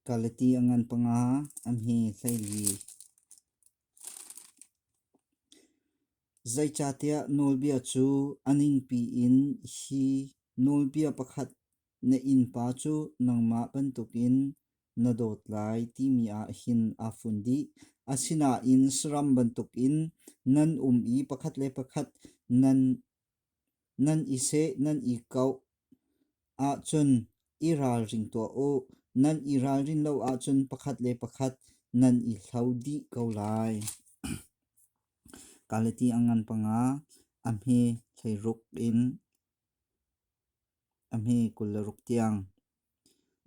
Kalati a ngan panga an hi hleili. Zeicahtiah nawlbia cu a ningpi in hi nawlbia pakhat na innpa cu nangmah bantukin na dawt lai timi ah hin aa fun dih. Asinain saram bantukin nan um i pakhat le pakhat nan Nan i seh, nan i koh ahcun i ralring tuah u. Nan i ralrin lo ahcun pakhat le pakhat nan i hlo dih ko lai. Kalati a ngan panga a hme thleiruk in a hme kul le ruk tiang.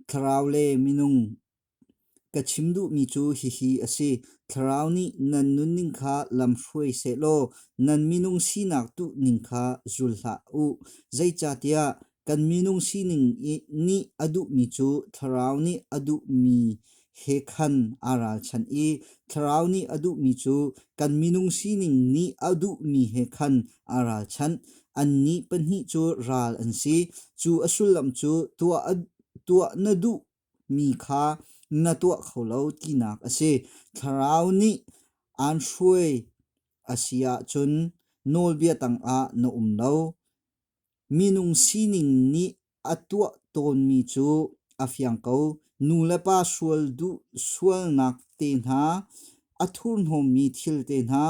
Thlarau le minung Ka chim duhmi cu hihi a si: Thlarau nih nan nunning kha lamhruai sehlaw nan minung sinak tuhning kha zul hlah u. Zeicahtiah kan minung sining nih a duhmi cu Thlarau nih a duhmi he khan aa ralchanh i Thlarau nih a duhmi cu kan minung sining nih a duhmi he khan aa ralchanh. Annih pahnih cu ral an si. Cu a sullam cu tuah na duh mi kha na tuah kho lo tinak a si. Thlarau nih aan hruai a si ahcun nawlbia tangah na um lo. Minung sining nih a tuah tawnmi cu a fiang ko. Nu le pa sual duh sualnak te hna, a thurhnawmmi thil te hna,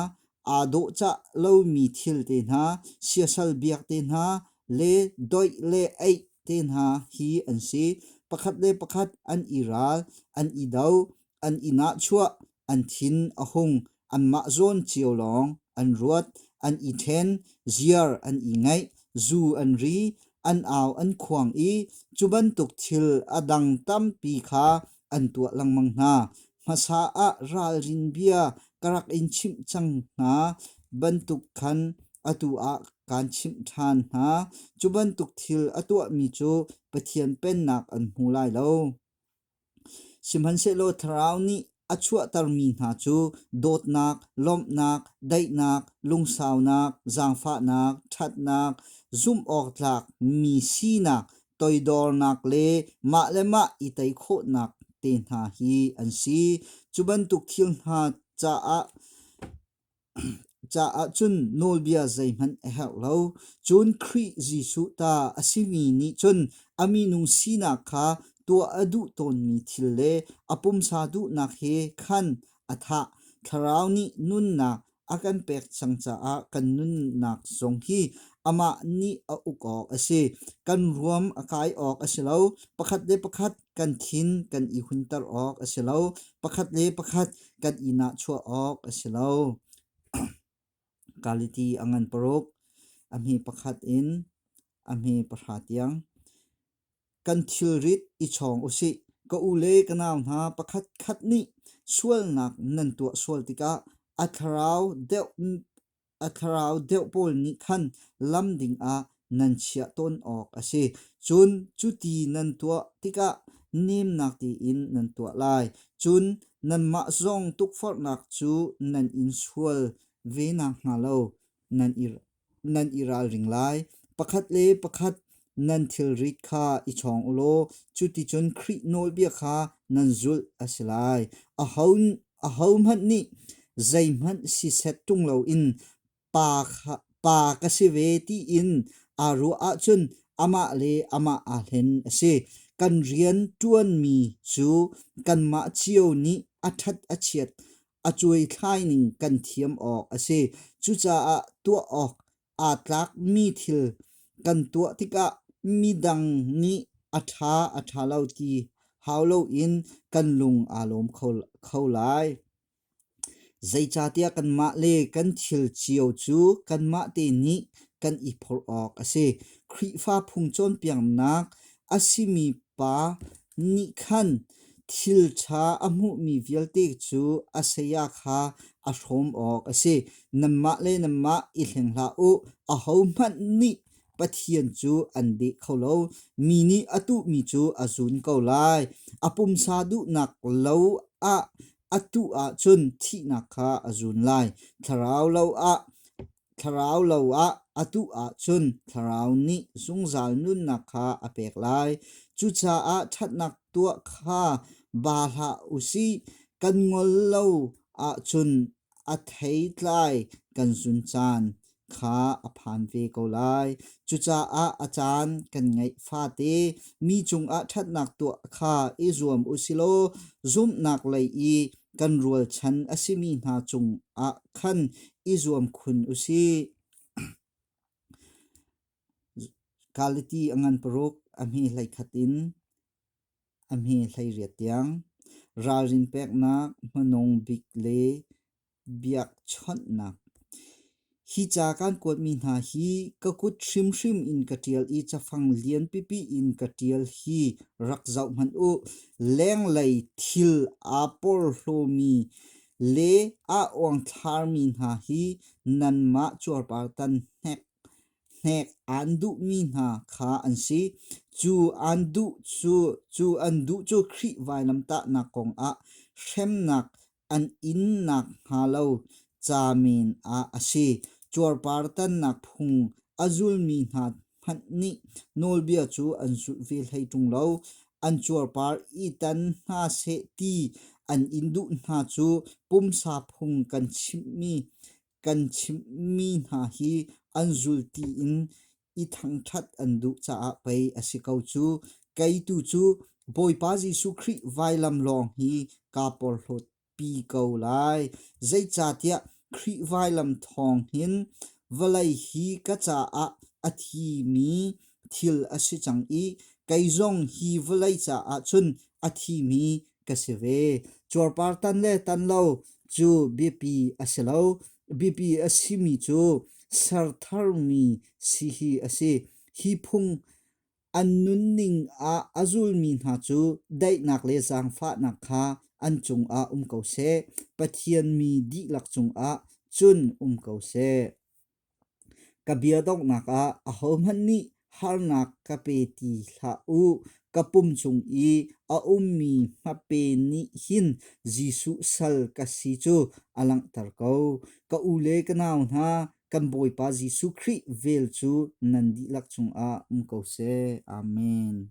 aa dawhcah lomi thil te hna, siasal biak te hna le doih le eih te hna hi an si. Pakhat le pakhat an i ral, an i do, an i nahchuah, an thin a hung, anmah zawn cio lawng an ruat, an i ṭhen, ziar an i ngaih, zu an ri, an au an khuang i cu bantuk thil a dang tampi kha an tuah lengmang hna. Hmasa ah ralrin bia ka rak in chimh cang hna bantuk khan atu ah kaan chimh ṭhan hna. Cu bantuk thil a tuahmi cu Pathian pennak an hmu lai lo. Sihmanhsehlaw thlarau nih a chuahtermi hna cu dawtnak, lawmhnak, daihnak, lungsaunak, zaangfahnak, ṭhatnak, zumhawktlak mi sinak toidornak le mah le mah i tei khawhnak te hna hi an si. Cu bantuk thil hna caah caah cun nawlbia zeihmanh a herh lo. Cun Khrih Jesuh ta a simi nih cun a minung sinak kha tuah a duh tawnmi thil le a pumsa duhnak he khan a thah. Thlarau nih nunnak a kan pek cang caah kan nunnak zong hi amah nih a uk awk a si. Kan ruam a kai awk a si lo. Pakhat le pakhat kan thin kan i hunter awk a si lo. Pakhat le pakhat kan i nachua awk a si lo. Kaliti a ngan paruk. A mi pakhat in a mi pahra tiang. Kan thilrit i chawng usih. Ka u le ka nau hna pakhat khat nih sualnak nan tuah sual tikah a thlarau deuh a thlarau deuh pawl nih khan lam dingah nan chiah tawn awk a si. Cun cuti nan tuah tikah nemnak tein nan tuah lai. Cun nanmah zong tukforhnak cu nan in sual ve nakhnga lo nan i nan i ralring lai. Pakhat le pakhat nan thilrit kha i chawng u law cuticun Khrih nawlbia kha nan zulh a si lai. Ahohmanh nih zeihmanh siseh ṭung loin pa, pa ka si ve tiin aa ruah ahcun amah le amah aa hlen a si. Kan rian ṭuanmi cu kanmah cio nih a ṭhat a chiat a cuaithlaining kan thiam awk a si. Cucaah tuah awk aa tlakmi thil kan tuah tikah midang nih a ṭha a ṭha lo ti hau loin kan lung aa lawm kho, kho lai. Zeicahtiah kanmah le kan thil cio cu kanmah te nih kan i phorh awk a si. Khrihfa phung cawnpiaknak a simi pa Nih khan thil ṭha a hmuhmi vialte cu a saya kha a hrawm awk a si. Nanmah le nanmah i hleng hlah u, ahohmanh nih Pathian cu an deh kho lo. Mi nih a tuhmi cu a zun ko lai. A pumsa duhnak lo ah a tuh ahcun thihnak kha a zun lai. Thlarau lo ah Thlarau lo ah a tuh ahcun thlarau nih zungzal nunnak kha a pek lai. Cucaah ṭhatnak tuah kha ba hlah u sih. Kan ngol lo ahcun a thei tlai kan zun caan kha a phan ve ko lai. Cucaah a caan kan ngeih fate mi cungah ṭhatnak tuah kha i zuam u silaw zumhnak lei i kan rualchan a simi hna cungah khan i zuam khun usih. Kaliti a ngan paruk amhi hlei khat in amhi hlei riat tiang. Ralrin peknak hmanung bik le biak chawnhnak. Hi ca kan kuatmi hna hi ka kut hrimhrim in ka ṭial i cafang lian pipi in ka ṭial hi rak zoh hmanh u. Lenglei thil aa porhlawmi Le a uangthlarmi hna hi nanmah cuarpartan hnek aan duhmi hna kha an si. Cu an duh cu cu an duh cu Khrih vailamtahnak kongah hremnak an in nakhnga lo ca men ah a si. Cuarpartannak phung a zulmi hna hmanh nih nawlbia cu an zulh ve hlei ṭung lo. An cuarpar i tan hna seh ti an in duh hna cu pumsa phung kan chimhmi kan chimhmi hna hi an zulti in i thangṭhat an duh caah pei a si ko cu. Kei tu cu Bawipa Jesuh Khrih vailam lawng hi kaa porhlawt pi ko lai. Zeicahtiah Khrih vailam thawng hin vawlei hi ka caah a thimi thil a si cang i kei zong hi vawlei caah cun a thimi ka si ve. Cuarpar tan le tan lo cu biapi a si lo. Biapi a simi cu ser tharmi si hi a si. Hi phung an nunning ah a zulmi hna cu daihnak le zaangfahnak kha an cungah um ko seh. Pathian mi dihlak cungah cun um ko seh. Ka bia donghnak ah ahohmanh nih harnak ka pe ti hlah u. Ka pum chung i a ummi hmape nih hin Jesuh sal ka si cu a langhter ko. Ka u le ka nau hna, kan Bawipa Jesuh Khrih vel cu nan dihlak cungah um ko seh. Amen.